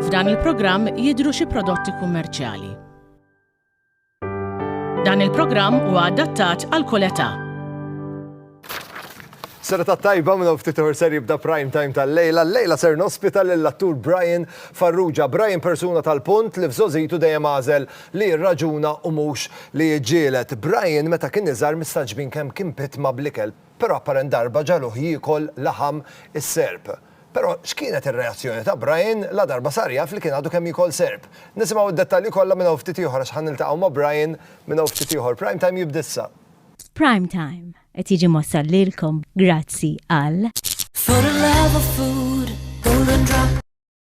F'dan il-programm jidhru xi prodotti kummerċjali. Dan il-programm huwa adattat għal kull età. Sera ta' tajba minn ftit uħor ser jibda prime time tal-lejla. Lejla ser nospita lill-attur Brian Farrugia. Brian persuna tal-punt li f'żożitu dejjem għażel li jirraġuna u mhux li jiġġieled. Brian meta kien iżgħar mistagħġbin kemm kien pitma bl-ikel, però apparent darba ġagħluh jiekol laħam is-serp. Però x'kienet ir-reazzjoni ta' Brian ladarba sar jaf li kien għadu kemm jiekol serp? Nisimgħu d-dettalji kollha minn hawn ftit ieħor għax ħa niltaqgħu ma' Brian minn hawn ftit ieħor. Prime Time jibda issa. Prime Time qed jiġi mwassal lilkom grazzi għal.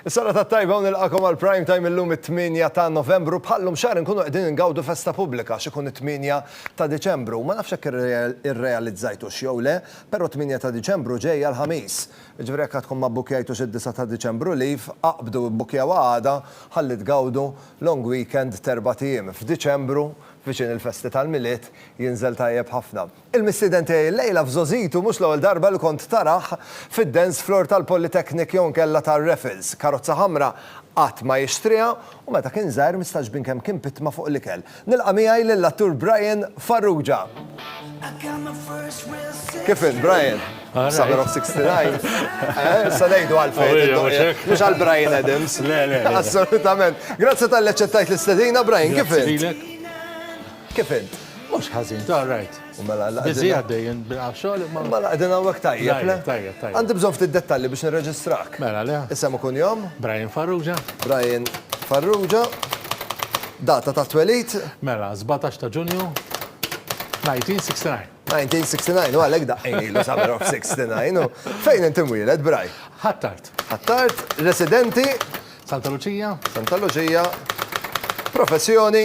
Is-sena tat-tajba u nilqagħkom għal Prime Time illum it-tmienja ta' Novembru, bħal-lum xahar inkunu qegħdin ingawdu festa pubblika għax ikun it-tmienja ta' Diċembru. Ma nafx jekk irrealizzajtux jew le, però t-tmienja ta' Diċembru ġejja l-Ħamis. Jiġifieri jekk għadkom ma bbukkjajtux id-disa' ta' Diċembru leave, aqbdu ibbukkjawha għada ħalli tgawdu long weekend t'erbat ijiem f'Diċembru viċin il-festi tal-Milied, jinżel tajjeb ħafna. Il-mistieden tiegħi llejla f'żgħożitu mhux l-ewwel darba li kont tarah fid-dance floor tal-Polytechnic jew inkella tar-Raffles. Karozza ħamra qatt ma jixtriha u meta kien żgħir mistagħġbin kemm kien pitma fuq l-ikel. Nilqa' miegħi lill-attur Brian Farrugia. Kif int, Brian? Summer of '69. Issa ngħidu għalfejn id-doqqiet. Mhux għal Bryan Adams. Le, le. Assolutament. Grazzi talli aċċettajt l-istedina, Brian, kif int? Grazzi lilek. Kif int? Mhux ħażin. All right. U mela għandna. Biżi għaddej jien bilqgħa xogħol imma. Mela qegħdin hawnhekk tajjeb, le? Tajjeb, tajjeb. Għandi bżonn ftit dettalji biex nirreġistrak. Mela le. Isem u kunjom? Brian Farrugia. Brian Farrugia. Data ta' twelid? Mela, 17 ta' Ġunju. 1969. 1969, u għalhekk daqqejn ilu summer of 69, u fejn inti mwieled, Braj? Ħattart. Ħattart, residenti? Santa Luċija. Santa Luċija. Professjoni?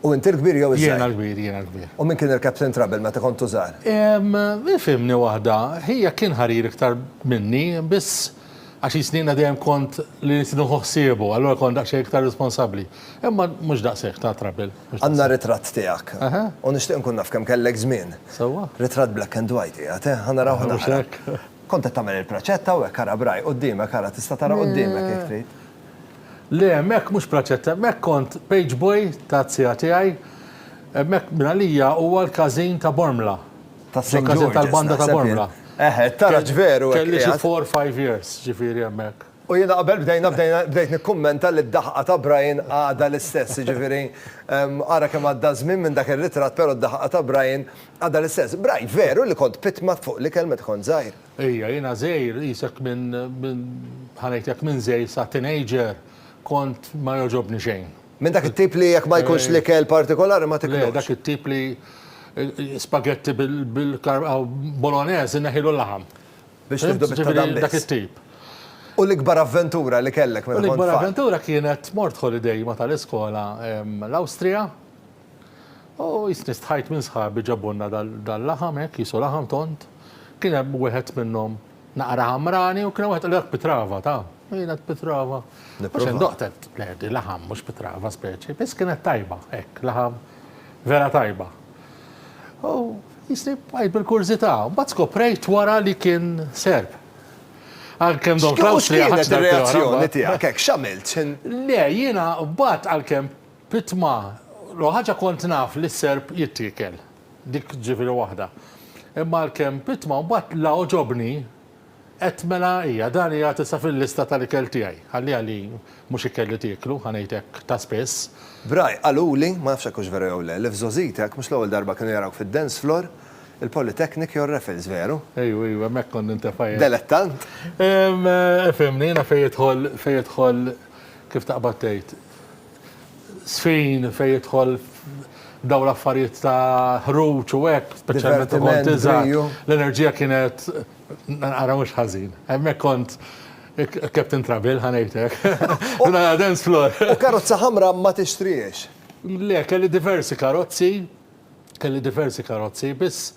U inti l-kbir jew iż-żgħir? Jiena l-kbir, jiena l-kbir. U min kien il-captain trouble meta kontu żgħar? Ehm, ifhimni waħda, ħijek kien ħarir iktar minni, biss għax jisni jiena dejjem kont li rrid nieħu ħsiebu, allura kont daqsxejn iktar responsabbli. Imma mhux daqshekk ta' trouble. Għandna ritratt tiegħek. Aha. U nixtieq nkun naf kemm kellek żmien. Sewwa. Ritratt black and white qiegħed, eh? Ħa narawh naqra. Mhux hekk. Kont qed tagħmel il-praċetta u hekk ara b'ragħaj qudiemek, ara tista' tara qudiemek jekk trid. Le, hemmhekk mhux praċetta, hemmhekk kont page boy taz-zija tiegħi, hemmhekk minn għalija huwa l-każin ta' Bormla. Ta' St. George's. Ġo-każin tal-banda ta' Bormla. Eħe, it-taraġ veru hekk qiegħed. Kelli xi four, five years, ġifieri hemmhekk. U jiena qabel bdejna, bdejna, bdejt nikkummenta li d-daħqa ta' Brian għadha l-istess, jiġifieri ara kemm għadda ż-żmien minn dak ir-ritratt però d-daħqa ta' Brian għadha l-istess. Brian, veru li kont pitma fuq l-ikel meta kont żgħir? Ejja, jiena żgħir, qisek minn, minn, ħa ngħid hekk, minn żgħir sa teenager, kont ma jogħġobni xejn. Minn dak it-tip li jekk ma jkunx l-ikel partikolari ma tiklux? Le, dak it-tip li spaghetti bil, bolognese inneħħilu l-laħam. Biex tieħdu bit-ta' dan biss. Dak it-tip. U l-ikbar avventura li kellek meta kont tfal? L-ikbar avventura kienet mort holiday ma tal-iskola l-Awstrija. Oh, jisni stħajt minn sħabi ġabulna dal-laħam hekk, qisu laħam tond. Kien hemm wieħed minnhom naqra ħamrani u kien hemm wieħed qal pitrava, ta. Kienet pitrava. Mhux indoqtet, le, di laħam mhux pitrava speċi, biss kienet tajba, hekk, laħam vera tajba. U jisni bqajt bil-kurżità, mbagħad skoprejt wara li kien serb. Għalkemm Don Klaus li għax reazzjoni tiegħek, hekk x'għamilt? Le, jiena mbagħad għalkemm Pitma, L-ewwel ħaġa kont naf li s-serp jittiekel. Dik ġifieri waħda. Imma għalkemm pitma mbagħad la għoġobni qed mela hija, dan qiegħed issa fil-lista tal-ikel tiegħi. Ħalliha li mhux ikel li tieklu, ħa ngħid hekk, ta' spiss. Bry, Qaluli, ma nafx hekk hux veru jew le, li f'żgħożitek mhux l-ewwel darba kienu jarawk fid-dance floor, il-Polytechnic jew r-Raffles, veru? Ejw, ejw, hemmhekk kont nintefa' jien. Delettant? Ifhimni, jiena fejn jidħol, fejn jidħol, kif taqbad tgħid? Żfin fejn jidħol f'dawn l-affarijiet ta' ħruġ u hekk, speċjalment u kont iżgħar. L-enerġija kienet ara mhux ħażin. Hemmhekk kont Captain Trouble ħa ngħid hekk. Konna nagħmlu dance floor. U karozza ħamra ma tixtrihiex? Le, kelli diversi karozzi, kelli diversi karozzi, biss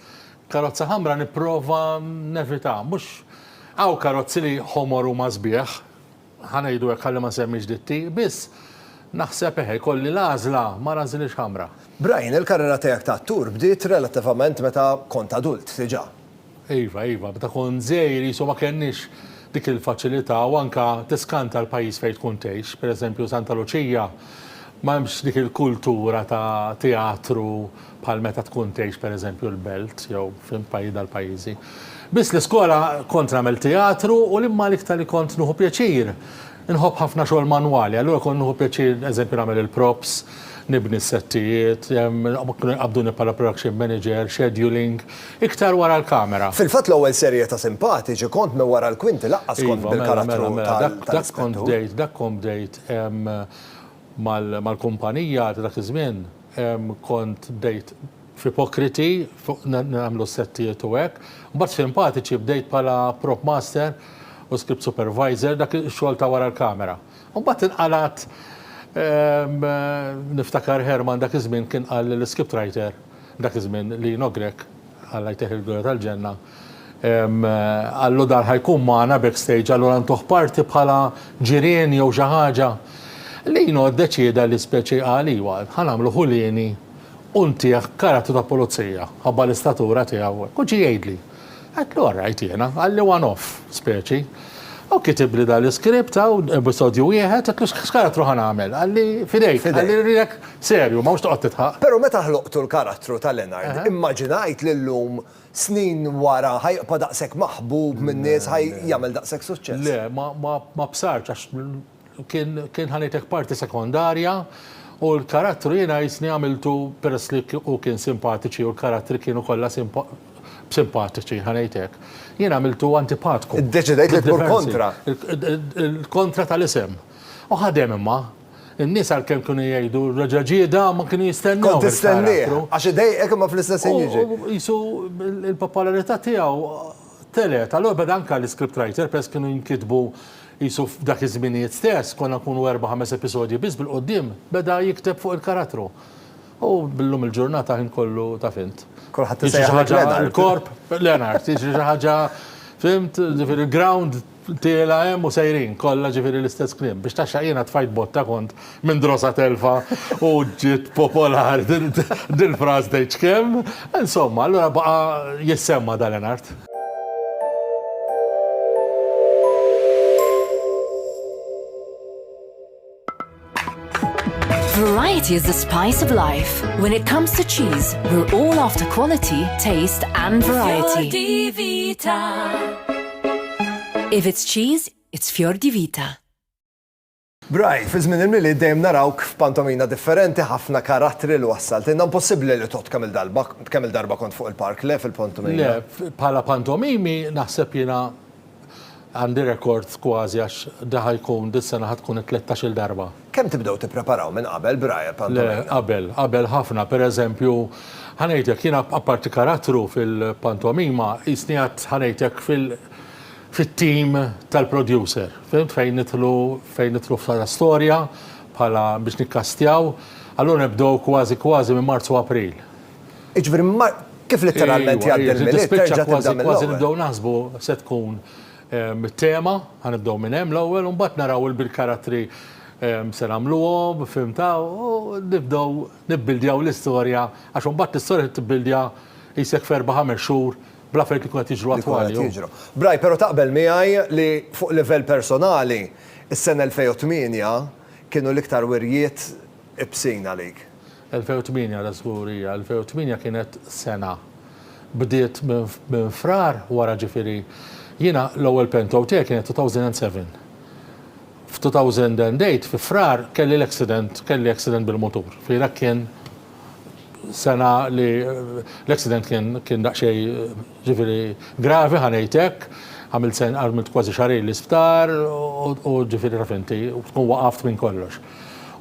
karozza ħamra nipprova nevitha. Mhux, hawn karozzi li ħomor huma sbieħ. ħa ngħidu hekk ħalli ma nsemmix ditti, biss naħseb eħe jkolli l-għażla mara nżilhiex ħamra. Brian, il-karriera tiegħek ta' attur bdiet relattivament meta kont adult diġà. Iva, iva, meta kont żgħir qisu ma kellniex dik il-faċilità u anke tiskanta l-pajjiż fejn tkun tgħix, pereżempju Santa Luċija ma hemmx dik il-kultura ta' teatru bħal meta tkun tgħix pereżempju l-Belt jew f'int pajjiż dal-pajjiżi. Biss li skola kont nagħmel teatru u l-imma l-iktar li kont nuħu pjaċir. Inħobb ħafna xogħol manwali, allura kont nuħu pjaċir eżempju nagħmel il-props, nibni s-settijiet, kienu jqabbduni bħala production manager, scheduling, iktar wara l-kamera. Fil-fatt l-ewwel serje ta' Simpatiċi kont minn wara l-kwinti lanqas kont bil-karattru tal-Ispettur. Iva, mela, mela, mela, dak kont bdejt, dak kont bdejt mal-kumpanija ta' dak iż-żmien kont bdejt f'ipokriti fuq nagħmlu s-settijiet u hekk. Mbagħad f'impatiċi bdejt bħala prop master u script supervisor, dak ix-xogħol ta' wara l-kamera. Mbagħad inqalgħat niftakar Herman dak iż-żmien kien qal lill-script writer dak iż-żmien, Lino Grech, Alla jtih il-glorja tal-ġenna, Allo dar ħa jkun magħna backstage allura ntuh party bħala ġirien jew xi ħaġa. Lino ddeċieda li speċi qal iwa, ħa nagħmlu ħulieni u ntih karattru ta' pulizija, ħabba l-istatura tiegħu u hekk. U ġie jgħidli. Għedtlu all right jiena, qalli one off speċi. U kitibli dan l-iskript hawn, episodju wieħed, għedtlu x'karattru ħa nagħmel? Qalli f'idejk, qalli rridek serju, ma mhux toqgħod tidħaq. Però meta ħloqtu l-karattru ta' Leonard, immaġinajt li llum snin wara ħa jibqa' daqshekk maħbub min-nies, ħa jagħmel daqshekk suċċess? Le, ma bsartx għax kien ħa ngħidlek parti sekondarja u l-karattru jiena qisni għamiltu peress li hu kien simpatiċi u l-karattri kienu kollha simpatiċi, ħa ngħid hekk. Jien għamiltu antipatku. Iddeċidejt li tmur kontra. Kontra tal-isem. U ħadem imma. In-nies għalkemm kienu jgħidu reġa' ġieda ma kienu jistennew. Kont tistennieh, għax idejqek imma fl-istess ħin jiġi. Qisu l-popolarità tiegħu telet, allura beda anke l-iscript writer peress kienu jinkitbu qisu f'dak iż-żminijiet stess, konna nkunu erba' ħames episodji biss bil-quddiem, beda jikteb fuq il-karattru. U llum il-ġurnata ħin kollu taf int. Kulħadd isejjaħlek Leonard. Il-korp, Leonard, jiġri xi ħaġa, fimt, ġifieri l-ground Tiela' hemm u sejrin, kollha ġifieri l-istess kliem. Biex taxxaq jiena tfajt botta kont minn drosa telfa u ġiet popolari dil-fraż tgħidx kemm. Insomma, allura baqa' jissemma' Dalenart. Variety is the spice of life. When it comes to cheese, we're all after quality, taste and variety. If it's cheese, it's Fior di Vita. Braj, fi żmien il-mili dejjem narawk f'pantomina differenti ħafna karattri li wassalt. Inna impossibbli li tot kemm darba kemm darba kont fuq il-park le fil-pantomina. Le, bħala pantomimi naħseb jiena Għandi rekord kważi għax da ħa jkun, dis-sena ħa tkun it-tlettax-il darba. Kemm tibdew tippreparaw minn qabel b'Raja Pantomime? Le, qabel, qabel ħafna. Per eżempju, ħa ngħidlek, jiena apparti karattru fil-pantomima, qisni għad ħa ngħidlek fil, fit-team tal-producer, fimt, fejn nidħlu, fejn nidħlu bħala storja, bħala biex nikkastjaw. Allura nibdew kważi kważi minn Marzu-April. Jiġifieri kif litteralment jgħaddi l-Milied terġa' tibda mill-ewwel. Tispiċċa kważi kważi nibdew naħsbu se tkun it-tema, ħa nibdew minn hemm l-ewwel u mbagħad naraw il-karattri se nagħmluhom, fhimtha, u nibdew nibbildjaw l-istorja għax imbagħad l-istorja trid tibbildja qisek f'erba' ħames xhur bl-affarijiet li jkunu qed jiġru attwali. Li jkunu qed jiġru. Brian, però taqbel miegħi li fuq livell personali s-sena 2008 kienu l-iktar wirjiet ibsin għalik? 2008 dażgur hija, 2008 kienet sena. Bdiet minn Frar wara ġifieri jiena l-ewwel pentow tiegħi kienet 2007. F'2008 fi Frar kelli l-accident, kelli accident bil-mutur. Ġifieri dak kien sena li l-accident kien kien daqsxejn ġifieri gravi ħa ngħid hekk, għamilt kważi xahrejn l-isptar u ġifieri taf inti, tkun waqaft minn kollox.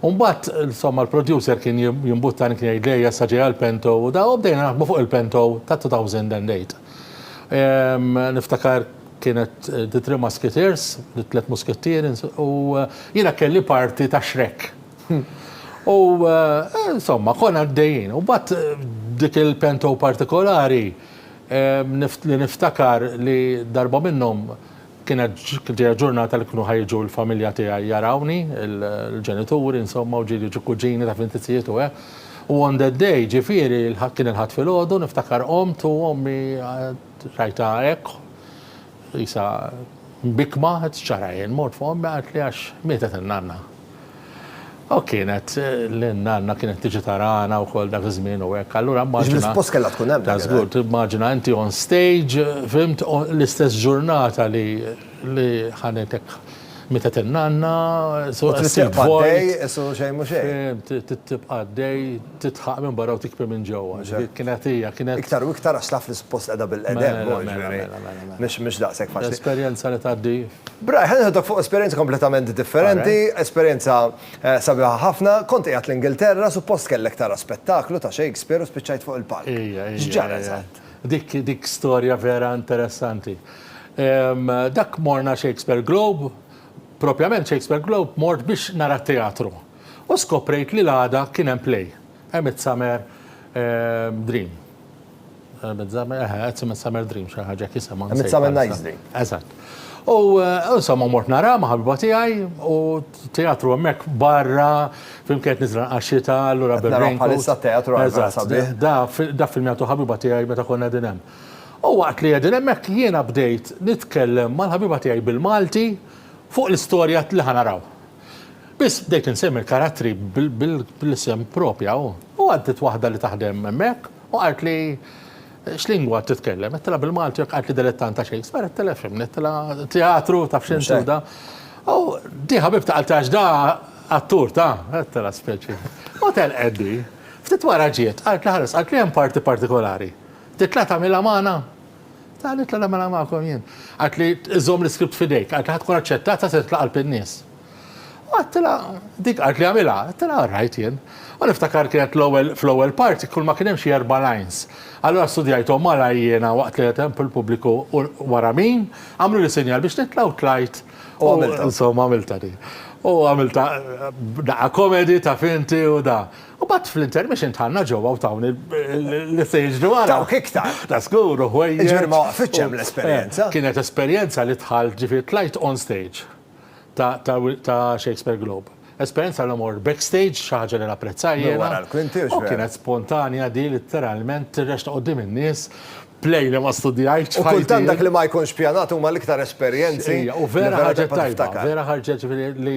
U mbagħad insomma l-producer kien jimbuttani kien jgħidli ejja sa ġejha l-Pento u da u bdejna naħdmu fuq il-Pento ta' 2008. Ehm, niftakar kienet The Three Musketeers, it-tliet muskettieri, u jiena kelli parti ta' Shrek. U eh, insomma, konna għaddejjin. U mbagħad eh, dik il-Pento partikolari ehm, li niftakar li darba minnhom Kienet ġie ġurnata li kienu ħa jiġu l-familja tiegħi jarawni, il-ġenituri insomma u ġieli ġie kuġini taf inti tzijiet u hekk. U on that day, ġifieri kien il-Ħadd filgħodu, niftakar qomt u ommi rajtha hekk qisha mbikkma, qed ċċara għajn, mort fuq ommi qaltli għax mietet in-nanna. U kienet l-nanna kienet tiġi tarana wkoll dak iż-żmien u hekk. Allura immaġina. Bil-fos kellha tkun hemm. Ta' żgur, timmaġina inti on stage, fimt, l-istess ġurnata li li ħanetek mitet in-nanna, so tibqa' għaddej, so xejn mhu xejn. Tibqa' għaddej, titħaq minn barra u tikpi minn ġewwa. Kienet hija, kienet. Iktar u iktar għax taf li suppost qiegħda bil-qedem. Mhux daqshekk faċli. Esperjenza li tgħaddi Brian, ħa nieħdok fuq esperjenza kompletament differenti, esperjenza sabiħa ħafna. Kont qiegħed l-Ingilterra, suppost kellek tara spettaklu ta' Shakespeare u spiċċajt fuq il-palk. X'ġara eżatt? Dik storja vera interessanti. Dak morna Shakespeare Globe, propjament Shakespeare Globe mort biex nara teatru u skoprejt li l-għada kien hemm play, A Midsummer Dream. Eh, Midsummer, eh, eh, it's a Midsummer Dream, xi ħaġa kisema. Midsummer Night's Dream. Eżatt. U insomma mort nara ma' ħabiba tiegħi u teatru hemmhekk barra fimkien nizra għaxita allura berrin. Bħalissa teatru għal Da film jagħtu ħabiba tiegħi meta konna din hemm. U waqt li qegħdin hemmhekk jiena bdejt nitkellem mal-ħabiba tiegħi bil-Malti fuq l-istorja li ħanaraw. Biss bdejt insemmi l-karattri bil-isem propja u għaddit waħda li taħdem hemmhekk U qaltli, X'lingwa qed titkellem? Għedtilha, Bil-Malti, u qaltli, Dilettant ta' Shakespeare? Għedtilha, Fimni, għedtilha, Teatru, taf x'inhu da? U di ħabibta qaltli, Għax da attur, ta? Għedtilha, Speċi. U telqet di. Ftit wara ġiet, qaltli, Ħares, qaltli, hemm parti partikolari. Titla' tagħmilha magħna? Ta, nitla' nagħmilha magħkom jien. Qaltli, Żomm l-iskript f'idejk. Qaltli, Ħa tkun aċċettata se titla' qalb in-nies. Għadtilha, dik qalt li għamilha, għadtilha all right jien. U niftakar kienet l-ewwel fl-ewwel parti kull ma kien hemm xi erba' lines. Allura studjajthom malajr jiena waqt li qed hemm fil-pubbliku u wara min, għamluli sinjal biex nitla' u tlajt u għamiltha. Insomma għamiltha di. U għamiltha daqqa comedy taf inti u da. U mbagħad fl-intermission dħalna ġewwa u tawni l-istage li wara. Tawk iktar. Ta' żgur u ħwejjeġ. Jiġifieri ma waqfitx hemm l-esperjenza. Kienet esperjenza li dħalt ġifieri tlajt on stage. ta' Shakespeare Globe. Esperjenza li mor backstage, xi ħaġa li napprezza jiena. Minn wara l-kwinti, x'veru. U kienet spontanja din litteralment tirrex ta' quddiem in-nies, play li ma studjajtx f'ħajti. U kultant dak li ma jkunx pjanat huma l-iktar esperjenzi. Ejja, u vera ħarġet tajba, vera ħarġet ġifieri li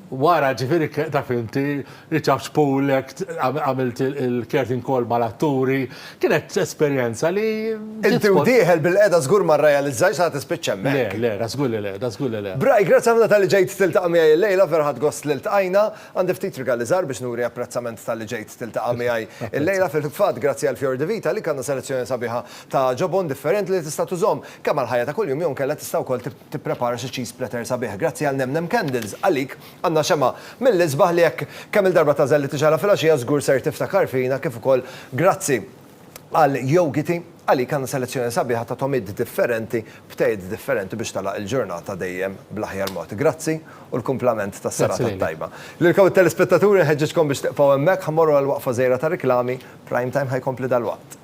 wara ġifieri taf inti Riċard Pulek, għamilt il-curtain call mal-atturi, kienet esperjenza li ġiet. Inti u dieħel bil-qegħda żgur ma rrealizzajtx sa tispiċċa hemmhekk. Le, le, da żgur li le, da żgur li le. Bray, grazzi ħafna talli ġejt tiltaqa' miegħi illejla, vera ħadt gost li ltqajna. Għandi ftit rigali żgħar biex nuri apprezzament talli ġejt tiltaqa' miegħi illejla. Fil-fatt, grazzi għal Fior di Vita għalik għandna selezzjoni sabiħa ta' ġobon differenti li tista' tużhom kemm għall-ħajja ta' kuljum jew inkella tista' wkoll tipprepara xi cheese platter sabiħ. Grazzi għal Nem Nem Candles għalik Għandna xemgħa mill-isbaħ li jekk kemm-il darba tagħżel li tixgħelha filgħaxija żgur ser tiftakar fina kif ukoll grazzi għal Yogiti għalik għandna selezzjoni sabiħa ta' togħmiet differenti b'tejjiet differenti biex tagħlaq il-ġurnata dejjem bl-aħjar mod. Grazzi u l-kumplament tas-serata t-tajba. Lilkom it-telespettaturi nħeġġiġkom biex tiqfgħu hemmhekk ħa mmorru għal waqfa żgħira ta' riklami, Prime Time ħa jkompli dalwaqt.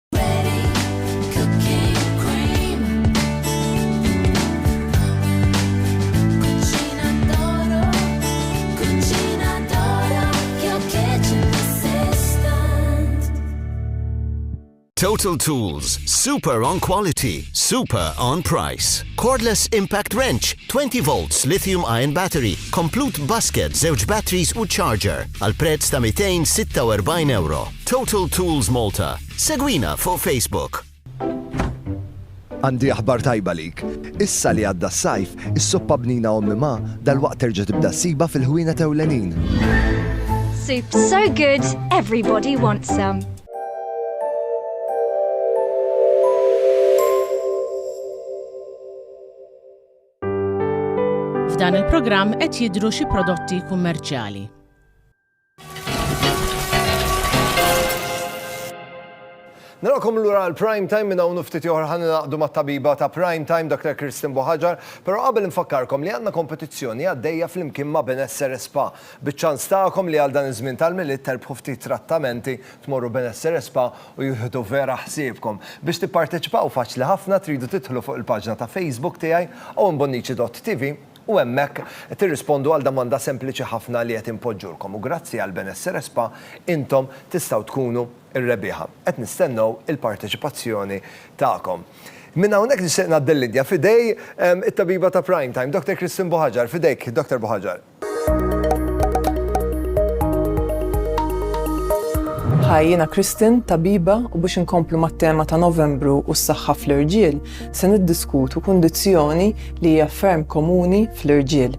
Total Tools, super on quality, super on price. Cordless Impact Wrench, 20 volts lithium ion battery, complete basket, zewġ batteries u charger, għal prezz ta' 246 euro. Total Tools Malta. Segwina fuq Facebook. Għandi aħbar tajba lik. Issa li għadda s-sajf, is-soppa bnina ommi ma dal-waqt terġa' tibda ssiba fil-ħwina tewlenin. Soup so good, everybody wants some. F'dan il-programm qed jidhru xi prodotti kummerċjali. Narakom lura għal Prime Time minn hawn ftit oħra ħan naqdu mat-tabiba ta' Prime Time Dr. Kristin Boħaġar, però qabel infakkarkom li għandna kompetizzjoni għaddejja flimkien ma' Benessere Spa. Biċ-ċans tagħkom li għal dan iż-żmien tal-Milied terbħu ftit trattamenti, tmorru Benessere Spa u jieħdu vera ħsiebkom. Biex tipparteċipaw faċli ħafna tridu tidħlu fuq il-paġna ta' Facebook tiegħi, owenbonnici.tv, u hemmhekk tirrispondu għal domanda sempliċi ħafna li qed inpoġġulkom u grazzi għal Benessere Spa intom tistgħu tkunu r-rebbieħa. Qed nistennew il-parteċipazzjoni tagħkom. Minn hawnhekk nixtieq ngħaddi l-linja f'idej it-tabiba ta' Prime Time, Dr. Christine Buhaġar. F'idejk, Dr. Buhaġar. Hi, jiena Christine, tabiba, u biex inkomplu mat-tema ta' Novembru u s-saħħa fl-irġiel, Se niddiskutu kundizzjoni li hija ferm komuni fl-irġiel.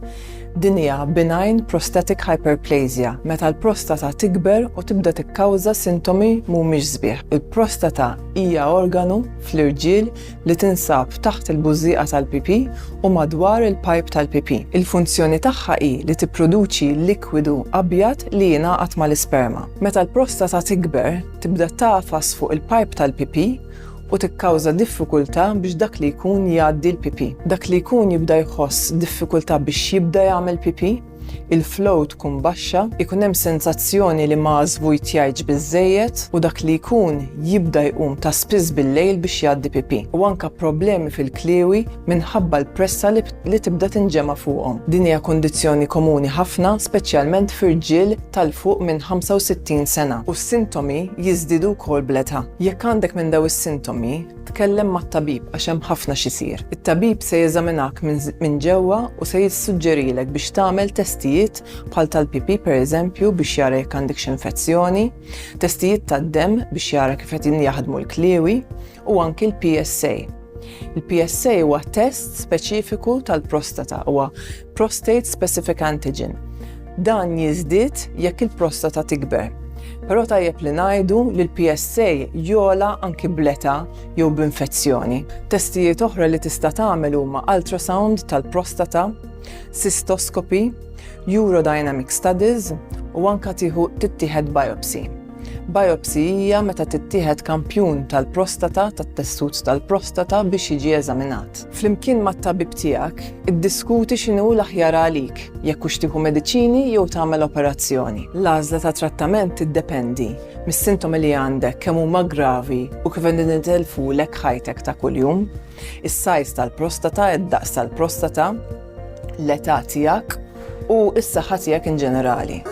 Din hija benign prostatic hyperplasia, meta l-prostata tikber u tibda tikkawża sintomi mhumiex sbieħ. Il-prostata hija organu fl-irġiel li tinsab taħt il-bużżieqa tal-pipì u madwar il-pajp tal-pipì. Il-funzjoni tagħha hi li tipproduċi likwidu abjad li jingħaqad mal-isperma. Meta l-prostata tikber, tibda tagħfas fuq il-pajp tal-pipì, u tikkawża diffikultà biex dak li jkun jgħaddi l-pipì. Dak li jkun jibda jħoss diffikultà biex jibda jagħmel pipì, il-flow tkun baxxa, ikun hemm sensazzjoni li ma żvujtjajtx biżżejjed u dak li jkun jibda jqum ta' spiss bil-lejl biex jgħaddi pipì u anke problemi fil-kliewi minħabba l-pressa li li tibda tinġema' fuqhom. Din hija kundizzjoni komuni ħafna, speċjalment fi rġiel ta' 'l fuq minn 65 sena, u s-sintomi jiżdiedu wkoll bl-età. Jekk għandek minn dawn is-sintomi, tkellem mat-tabib għax hemm ħafna x'isir. It-tabib se jeżaminahk minn ġewwa u se jissuġġerilek biex tagħmel testijiet bħal tal-pipì pereżempju biex jara jekk għandekx infezzjoni, testijiet tad-demm biex jara kif qegħdin jaħdmu l-kliewi, u anki l-PSA. Il-PSA huwa test speċifiku tal-prostata, huwa prostate specific antigen. Dan jiżdied jekk il-prostata tikber. Però tajjeb li ngħidu li l-PSA jola anki bleta jew b'infezzjoni. Testijiet oħra li tista' tagħmel huma ultrasound tal-prostata, cystoskopi, urodynamic studies u anka tieħu tittieħed biopsy. Biopsy hija meta tittieħed kampjun tal-prostata, tat-tessut tal-prostata biex jiġi eżaminat. Flimkien mat-tabib tiegħek, iddiskuti x'inhu l-aħjar għalik, jekk hux tieħu mediċini jew tagħmel operazzjoni. L-għażla ta' trattament tiddependi mis-sintomi li għandek, kemm huma gravi u kif qegħdin itellfulek ħajtek ta' kuljum. Is-size tal-prostata, id-daqs tal-prostata, l-età tiegħek u s-saħħa tiegħek in ġenerali.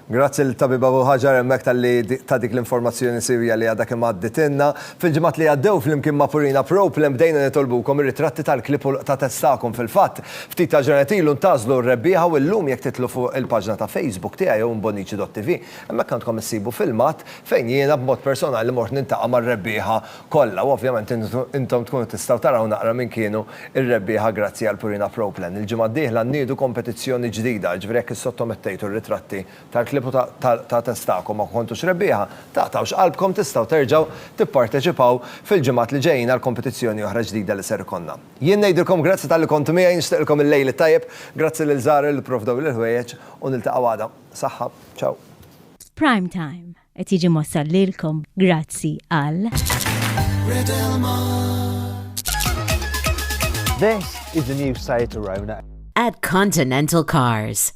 Grazzi l-Tabib Abu Hajar hemmhekk talli ta' dik l-informazzjoni siwja li għadha kemm għadditilna. Fil-ġimgħat li għaddew, flimkien ma' Purina Problem, bdejna nitolbukom ir-ritratti tal-klieb u l-qtates tagħkom. Fil-fatt, ftit tal-ġranet ilu ntagħżlu r-rebbieħa u llum jekk titlu fuq il-paġna ta' Facebook tiegħi jew mbonnici.tv, hemmhekk għandkom issibu filmat fejn jiena b'mod personali mort niltaqa' mar-rebbieħa kollha u ovvjament intom tkunu tistgħu taraw naqra min kienu r-rebbieħa grazzi għal Purina Proplen. Il-ġimgħa d-dieħla nniedu kompetizzjoni ġdida, jiġifieri jekk issottomettejtu r-ritratti tal-klieb u ta' testakom ma kontux rebbieħa, taqtgħux qalbkom tistgħu terġgħu tipparteċipaw fil-ġimgħat li ġejjin għal kompetizzjoni oħra ġdida li ser ikollna. Jien ngħidilkom grazzi talli kontu miegħi, nixtieqilkom il-lejl it-tajjeb, grazzi lil Zahra li pprovdewli l-ħwejjeġ u niltaqgħu għada. Saħħa. Ciao. Prime Time qed jiġi mwassal lilkom grazzi għal. This is the new Seat Arona. At Continental Cars.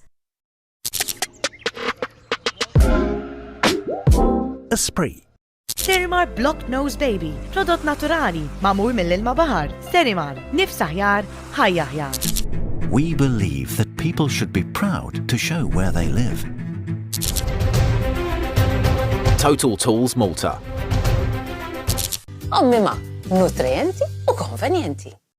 Esprit. Sterimar Block Nose Baby, prodott naturali, mamur mill-ilma bahar. Sterimar, nifs aħjar, ħajja aħjar. We believe that people should be proud to show where they live. Total Tools Malta. Ommima, nutrienti u konvenienti.